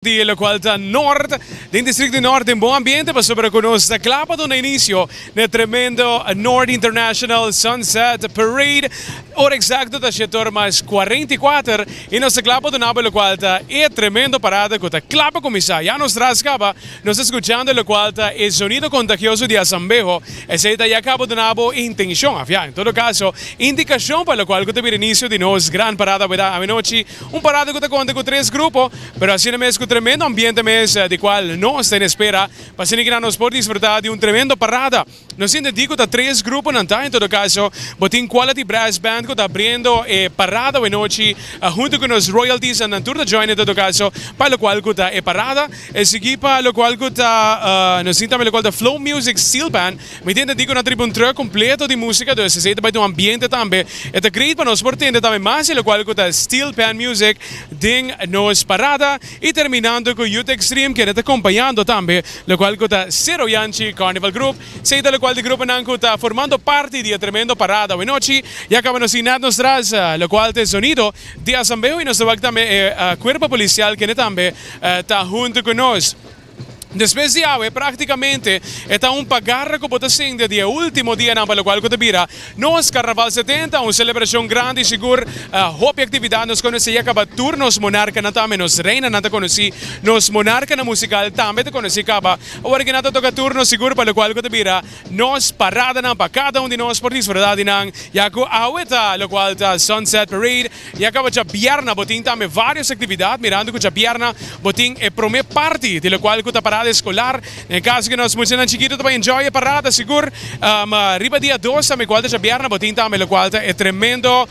di locual ta Noord den districto Noord den bon ambiente pasobra cu nos ta cla pa duna inicio na tremendo Noord International Sunset Parade ora exacto ta shetor mas cuarenta y cuater y nos ta cla pa dunabo locual ta e tremendo parada cu ta cla pa cuminsa ya nos tras caba nos ta scuchando locual ta e sonido contagioso di asambeho esey ta ya caba dunabo intencion afia en todo caso indicacion pa locual cu ta bira inicio di nos gran parada weda a mi nochi Un parada cu ta conta cu tres grupo, pero asina mes cu tremendo ambiente mes di cual nos ta en espera. Pa asina kinan nos por disfruta di un tremendo parada. No sinti di cu ta tres gruponan ta, en todo caso bo tin Quality Brass Band cu ta abriendo e parada awe nochi hunto cu nos royalties andan tur ta join en todo caso pa locual cu ta e parada. E sigui pa locual cu ta nos tin tambe locual ta Flow Music Steel Band. Mi tende di ku nan tribu un tròk kompleto di músika, dus esei ta bai ta un ambiente tambe. E ta great pa nos por tende tambe mas di lokual ku ta Steel Pan Music den nos parada i terminando ku Youth Extreme kende ta kompañando tambe lokual ku ta Sero Yanchi Carnival Group. Esei ta lokual di gruponan ku ta formando parti di e tremendo parada awe nochi. Ya kaba nos tin nada nos tras lokual ta e zonido di asambeo i nos ta wak tambe e Kuerpo Polisial kende tambe ta huntu ku nos. Despues di awe, practicamente e ta un pagarra cu bo ta sinti di e ultimo dianan pa locual cu ta bira nos Carnaval Setenta, un celebracion grandi y sigur hopi actividad. Nos conoci ya caba tur nos monarcanan tambe, nos reinanan ta conoci, nos monarcanan musical tambe ta conoci caba. Awor aki nan ta toca turno sigur pa locual cu ta bira Nos paradanan pa kada un di nos por disfruta di nan, ya ku awe ta lokual ta Sunset Parade, y a kaba djabièrnà bo tin tambe vários aktividat, mirando ku djabièrnà bo tin e promé parti di lokual ku ta parada eskolar. Na e kaso ku nos muchanan chikitu ta por enjoy e parada sigur, riba dia dos tambe kual ta djabièrnà bo tin tambe lokual ta e tremendo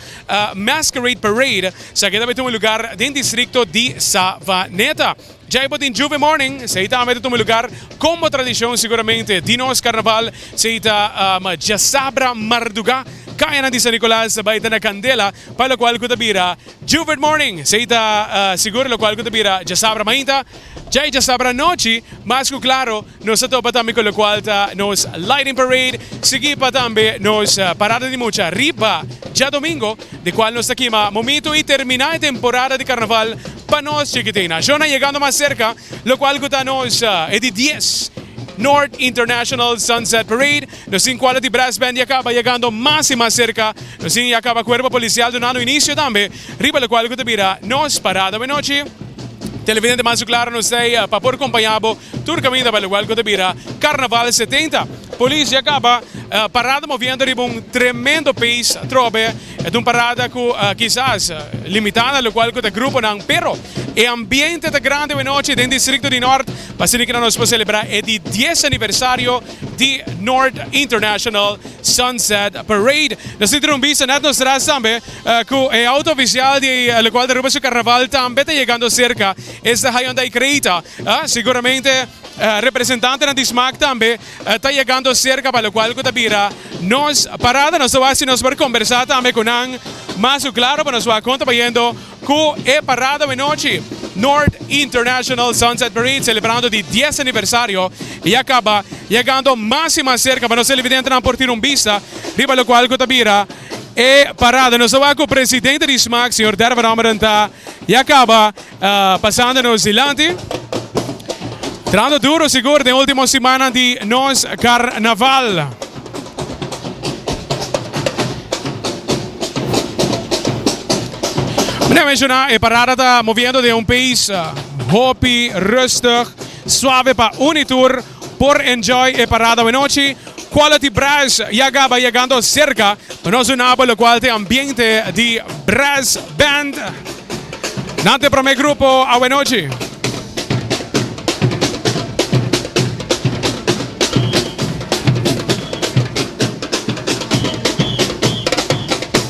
Masquerade Parade, sa ke ta bay tin un lugar den distrikto di Savaneta. Djay bo tin Juve Morning, esei ta ambe ta tuma lugar combo tradicion siguramente di nos carnaval, sei ta djasabra mardugá cayanan di San Nicolas ta bay ta na candela pa locual cu ta bira Juvert Morning, esei ta sigur locual cu ta bira djasabra mainta, djay djasabra anochi, mas cu claro. Nos ta topa tambe cu locual ta nos Lighting Parade, sigui pa tambe nos Parada di Mucha riba djadomingo, di cual nos ta kima momito y termina e temporada di Carnaval pa nos chikitina. Shona yegando mas cerca, locual cu ta nos e di dies North International Sunset Parade. Nos tin cuadro di Brass Band ya caba yegando mas y mas cerca. Nos tin ya caba Cuerpo Policial dunando inicio tambe. Riba lokual ku ta bira nos parada buenochi. Televidente mas su klaro nos ta ei pa por kompañá bo tur kaminda pa lokual ku ta bira Karnaval setenta. Polis ya kaba parada moviendo riba un tremendo pees atrobe. Ta un parada ku kisas limitá na lokual ku ta gruponan pero e ambiente ta grandi buenochi den distrikto di Nort pasobra ke nos por selebrá e di dies aniversario di Nort International Sunset Parade. Nos tin trumbista nèt nos tras tambe Cu e auto oficial di locual Aruba su carnaval tambe ta yegando cerca, esta Hyundai Creta. Seguramente representantenan di Smaak tambe ta yegando cerca pa locual cu ta bira nos parada. Nos ta wak si nos por conversa tambe cu nan mas cu claro pa nos wak con ta bayendo cu e parada menochi. North International Sunset Parade celebrando di dies aniversario y a caba yegando mas y mas cerca pa nos televidentenan por tira un bista riba locual cu ta bira. E parada nos a wak ku presidente di smaak señor Dervan Ramadan ta ya kaba pasando nos dilanti. Trando duro sigur den ultimo simannan di nos karnaval. Mi ta menshoná e parada ta moviendo den un pees hopi rustig, suave pa uni tur. Por enjoy e parada wenochi, Quality Brass ya gaba yegando cerca pa nos unabo locual te ambiente di Brass Band. Nan te prome grupo awenochi.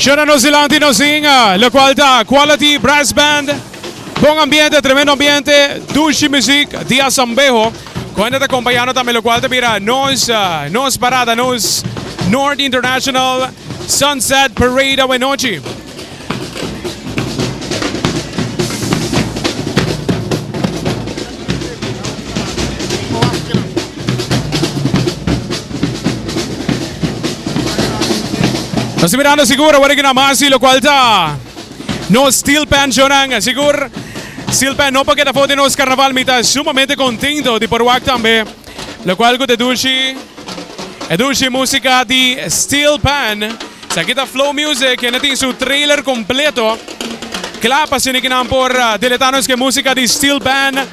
Shona nos dilanti nos zing, lo cual ta Quality Brass Band. Bon ambiente, tremendo ambiente, dushi muziek, dia sambeho. Cuenta ta acompañando tambe lo cual ta bira nos nos parada, nos North International Sunset Parade awe nochi. Nos ta mirando sigur awor aki na Masi, lo cual ta nos Steel Pan Shownan. Sigur, Steel Pan no por keda for den nos carnaval. Mi ta sumamente contento di por wak tambe. Locual cu te dulci e dulci musica di Steel Pan. Esaki ta Flow Music e na tin su trailer completo cla pa sunikinan por deleta nos cu e musica di Steel Pan.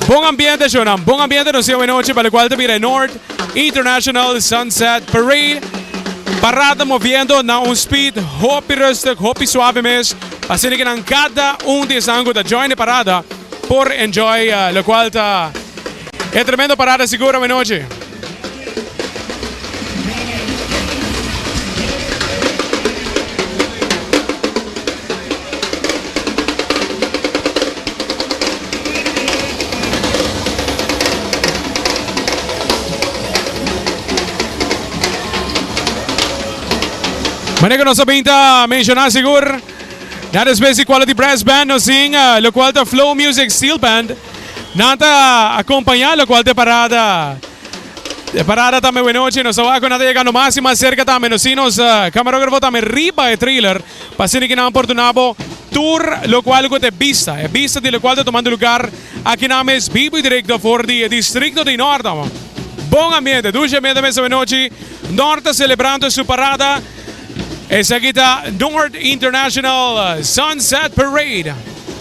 Bon ambiente shownan, bon ambiente nos sieu e nochi pa locual ta bira e North International Sunset Parade. Parad ta moviendo na un speed hopi rustig, hopi suave mes pa sunikinan cada un di esnan cu ta join e parada por enjoy locual ta. E tremendo parada Segura Menochi. Manera nos a pinta menciona sigur. Na después di Quality Brass Band nos sin uh, lo cual ta Flow Music Steel Band. Nan ta acompaña locual t'e parada. T'e parada tambe buen noche. Nos ta waco nan ta yegando mas y mas cerca tambe. Nos sin nos camarografo tambe riba e trailer pa asina ki nan por dunabo tur locual cu t'e bista. E bista di locual ta tomando lugar aki nan mes bibo y directo for di e districto di Norte. Bon ambiente, dulce ambiente mes awe nochi. Norte celebrando su parada. Esaki ta Norte International Sunset Parade.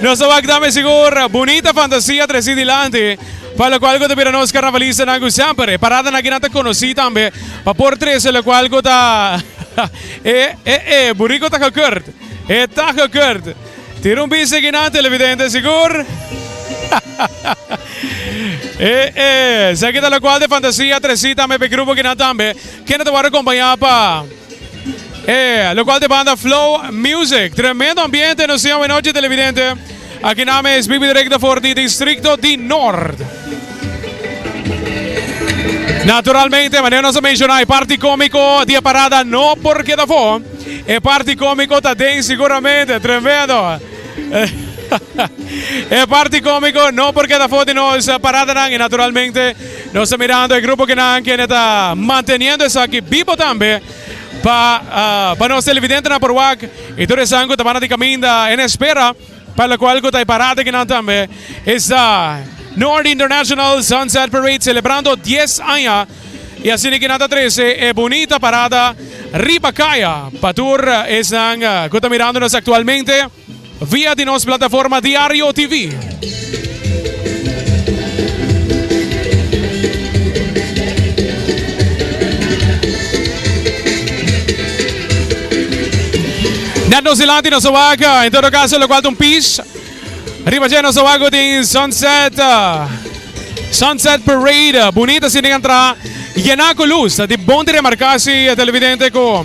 Nos ta wak tambe sigur bunita fantasia tresí dilanti, pa lokual ku ta bira nos karnavalistanan ku semper e paradana kinan ta konosí tambe pa por trese lokual ku ta e e e buriko ta gekurt e ta gekurt. Tira un bista kinan televidente sigur e e esaki ta lokual di fantasia tresí tambe pa e grupo kinan tambe kende ta wòrdu kompañá pa. E locual ta banda Flow Music. Tremendo ambiente nos tin awe noche televidente. Aki nan mes bibi directo for di distrito di Noord. Naturalmente manera nos a menciona e parti comico di e parada no por keda afo. E parti comico ta den seguramente. Tremendo. E parti comico no por keda afo di nos paradanan y naturalmente. Nos ta mirando e grupo kinan kende ta manteniendo esaki bibo tambe pa pa nos televidentenan por wak y tur esan cu ta banda di caminda en espera pa locual cu ta e parada kinan tambe esta North International Sunset Parade celebrando dies aña y asina kinan ta trece e bunita parada riba caya pa tur esnan cu ta mirandonos actualmente. Via di nos plataforma diario TV. Net nos dilanti nos a wak en todo caso lo cual ta un pis riba dje nos a wak go tin sunset sunset parade bonita si tin entrada yena cu luz di bon di remarca si televidente cu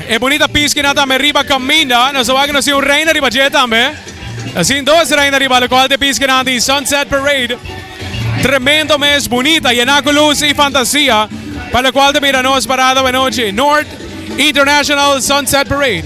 E bunita pis kina tambe riba kaminda, nos ta wak ku nos tin un reina riba dje tambe. Ta sin dos reina riba lokal di pis kina di Sunset Parade. Tremendo mes, bunita, yená ku lus i fantasia, pa lokual ta mira nos parada awanochi, North International Sunset Parade.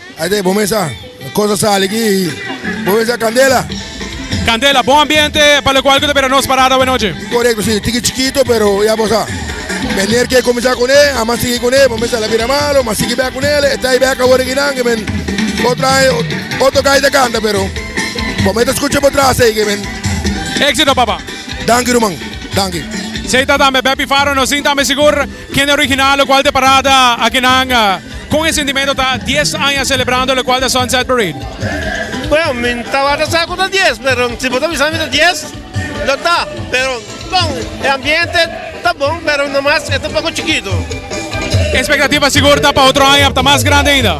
Aide bo mesa cosa sali aki bo mesa candela. Candela, bon ambiente pa lo cual cu ta bira nos parada hoy noche. Correcto, sí, tiki chiquito, pero ya bosa. Meneer que comenzar con él, a más seguir con él, momento la bira malo, más seguir back con él, está ahí back ahora que nan, que men, otra, otro calle de canta, pero, momento escucha por atrás, ahí que men. Éxito, papá. Dank je, Roman. Dank je. Zij dat aan bij Beppie Faro, no zien dat aan bij Sigur. Kende original lokual ta parada akinan kon e sentimento ta dies aña selebrando lokual ta Sunset Parade? Bueno mi tabata sa ku ta dies pero si bo ta bisa mi ta dies lo ta pero bon e ambiente ta bon pero no mas e ta un poko chikitu. E expectativa sigur ta pa otro aña ta mas grandi ainda?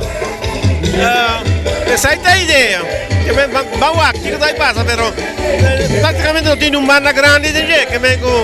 Esai ta idea ke men ban wak kiko ta bay pasa pero praktikamente no tin un banda grandi den dje ke men ku.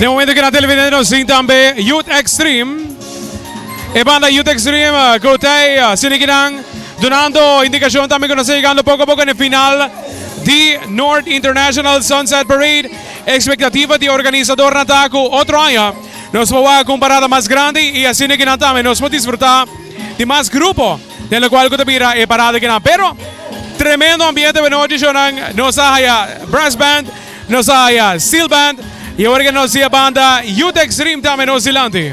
De momento que na televidente nos zien también Youth Extreme. E banda Youth Extreme, eh, Kotei, eh, Sinikinan, donando indicación también que nos está llegando poco a poco en el final de North International Sunset Parade. Expectativa de organizador Nataku otro año. Nos va a comparar más grande y así que también nos va a disfrutar de más grupo. Den locual cu ta bira e parada akinan. Pero tremendo ambiente buenos noches Jonan. Nos a haya brass band, nos a haya steel band y awor aki nos di e banda Youth Extreme tambe nos dilanti.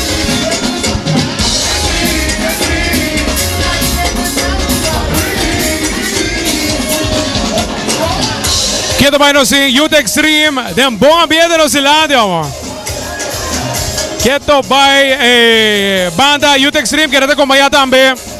Keda bai nos in Youth Extreme den bon ambiente nos in landi omo. Ke to bai e banda Youth Extreme keda ta kompaña tambe.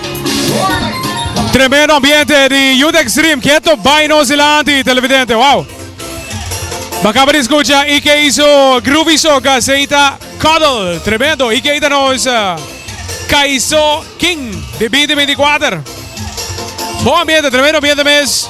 Tremendo ambiente di Youth Extreme. Keto bay nos dilanti, televidente. Wow. Bacaba di escucha y que hizo Groovy Soca, Seita Cuddle. Tremendo. Y que ita nos uh, Kaiso King de 2024. Bom ambiente, tremendo ambiente mes.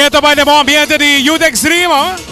Ke ta bai den bon ambiente di Youth Extreme.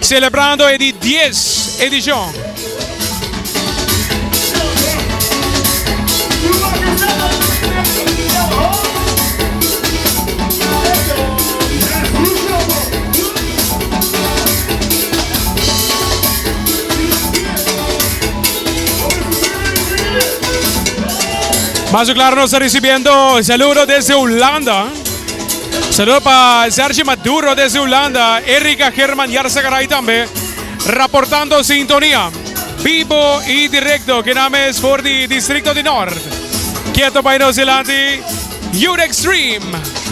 Celebrando e di dies edicion. Mas su claro nos ta ricibiendo saludo desde Hulanda. Saludo pa Sergi Maduro desde Hulanda, Erika German Jarsegaray tambe raportando sintonia bibo y directo ke nan mes for di distrikto di Nort. Kieto bay nos dilanti Youth Xtreme.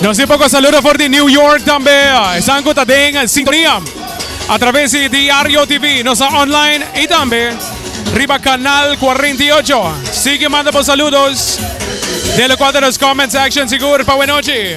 Nos di poco saludo for di New York tambe. Esan ku ta den sintonia. A través di Diario TV, nos a online y tambe riba canal 48. Sigue manda bo saludos. Dele cuadro nos comment section sigur pa buenochi.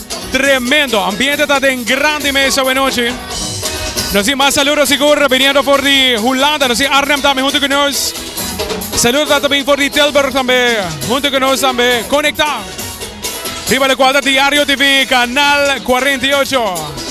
Tremendo ambiente ta den grandi mes awe nochi. Nos tin mas saludo sigur biniendo for di Hulanda, nos tin Arnhem tambe hunto ku nos. Saludo ta tabin for di Tilburg tambe hunto ku nos tambe konektá riba lokual ta Diario TV kanal 48.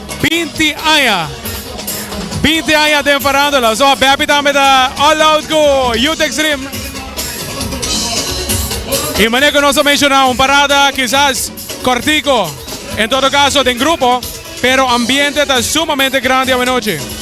Binti aña. Binti aña den Farándula. So, Bepi tambe ta all out ku Youth Extreme. I mane ku nos a menshoná, un parada kisas kòrtiku, en todo kaso den grupo, pero ambiente ta sumamente grandi awanochi.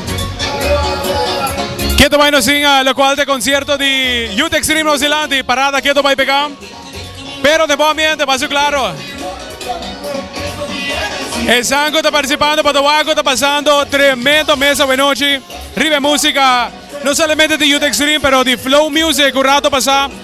Keto bai nos sin uh, lokual te konsierto di Youth Extreme nos dilanti, parada keto bai peka. Pero den bon ambiente, paso klaro. Esan ku ta partisipando pa Towaku ta pasando tremendo mes awe nochi riba e musika, no solamente di Youth Extreme pero di Flow Music ku rato pasa.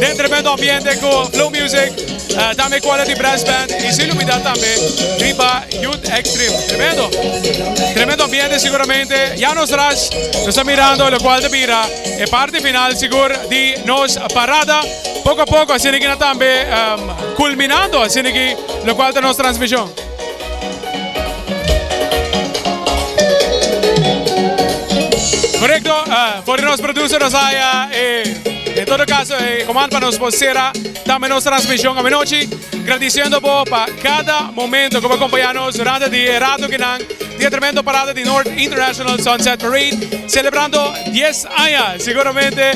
Den tremendo ambiente cu Blue Music, tambe Quality Brass Band y sin lubida tambe riba Youth Extreme. Tremendo. Tremendo ambiente seguramente. Ya nos ras, nos ta mirando locual ta bira e parti final sigur di nos parada. Poco a poco asina ki nan tambe culminando asina ki locual ta nos transmision. Korekto, for di nos producer nos haya e en todo kaso e komand pa nos por sera tambe nos transmishon awanochi, gradisiendo bo pa kada momento ku bo a kompañá nos durante di e rato kinan di e tremendo parada di North International Sunset Parade selebrando dies aña seguramente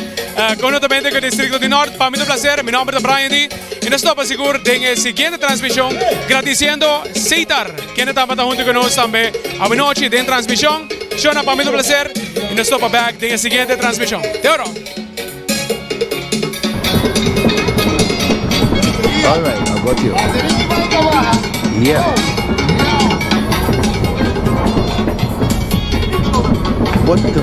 konhuntamente ku e distrito di Nort. Pa mi ta un plaser, mi nòmber ta Brian Di. Y nos topa sigur den e siguiente transmision gradiciendo Cesar kende tabata hunto cu nos tambe awanochi den transmision. Shona pa mi ta un placer y nos topa back den e siguiente transmision. Te oro. Alright a got you yeah Bonito.